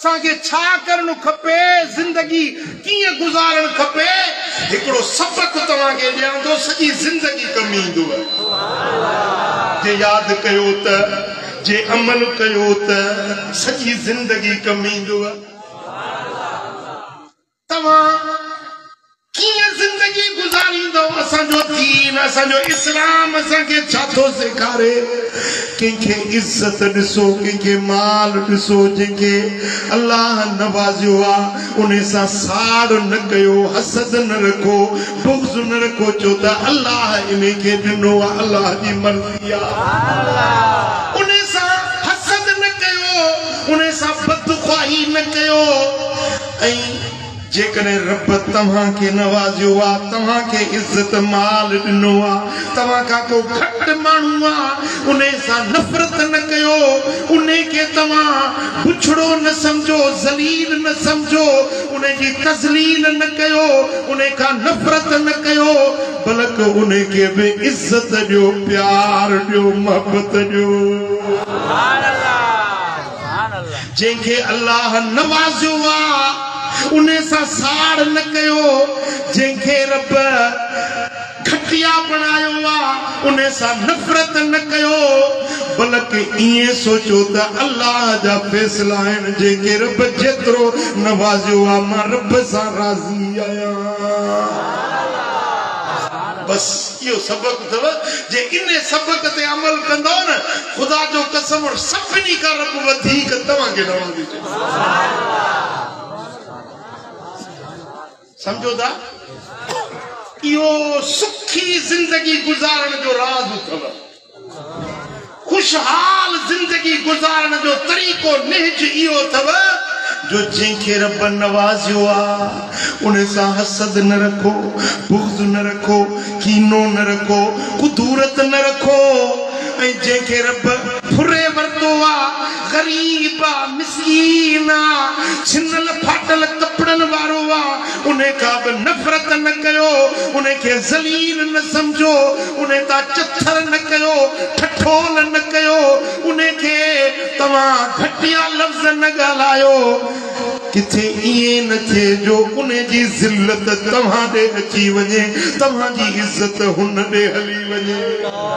اسان کي ڇا ڪرڻ کپي، زندگي ڪيئن گذارڻ کپي، هڪڙو سبق توهان کي ڏيان ٿو سڄي زندگي ڪم ايندوء. جي ياد ڪيو ته، جي عمل ڪيو ته، سڄي زندگي ڪم ايندوء. توهان ڪيئن زندگي گذاريندؤ، اسان جو دين، اسان جو اسلام اسان کي ڇا ٿو سيکاري، ڪنهن کي عزت ڏسو، ڪنهن کي مال ڏسو، جنهن کي الله نوازيو آ ان سان ساڙ نه ڪيو، حسد نه رکو، بغض نه رکو، ڇو ته الله ان کي ڏنو آ، الله جي مرضي آ، ان سان حسد نه ڪيو، ان سان بدخواهي نه ڪيو. ۽ جيڪڏهن رب توهان کي نوازيو آ، توهان کي عزت مال ڏنو آ، توهان کان ڪو گهٽ ماڻهو آ، انهي سان نفرت نه ڪيو، انهي کي توهان بڇڙو نه سمجهو، ذليل نه سمجهو، انهي جي تذليل نه ڪيو، انهي کان نفرت نه ڪيو، بلڪ انهي کي به عزت ڏيو، پيار ڏيو، محبت ڏيو. جنهن کي الله نوازيو آ انهي سان ساڙ نه ڪيو، جنهن کي رب گهٽيا بڻايو آ انهي سان نفرت نه ڪيو، بلڪ ائين سوچو ته الله جا فيصلا آهن، جنهن کي رب جيترو نوازيو آ مان رب سان راضي آهيان. بس اهو سبق اٿو، جي انهي سبق تي عمل ڪندؤ نه، خدا جو قسم اڻ سڀني کان رب وڌيڪ توهان کي رهندي چئي سمجهو ٿا اهو سکي زندگي گذارڻ جو راز اٿو خوشحال زندگي گذارڻ جو طريقو نهج اهو اٿو جو جنهن کي رب نوازيو آ ان سان حسد نه رکو، بغض نه رکو، ڪينو نه رکو، ڪدورت نه رکو ۽ جنهن کي رب. ڦري ورتو آ، غريب آ، مسڪين آ، ڇنل ڦاٽل ڪپڙن وارو آ، ان کان به نفرت نه ڪيو، ان کي ذليل نه سمجهو، ان تان چٿر نه ڪيو، ٺٺول نه ڪيو، ان کي توهان گهٽيا لفظ نه ڳالهايو. ڪٿي ائين نه ٿئي جو ان جي ذلت توهان ڏي اچي وڃي، توهان جي عزت هن ڏي هلي وڃي.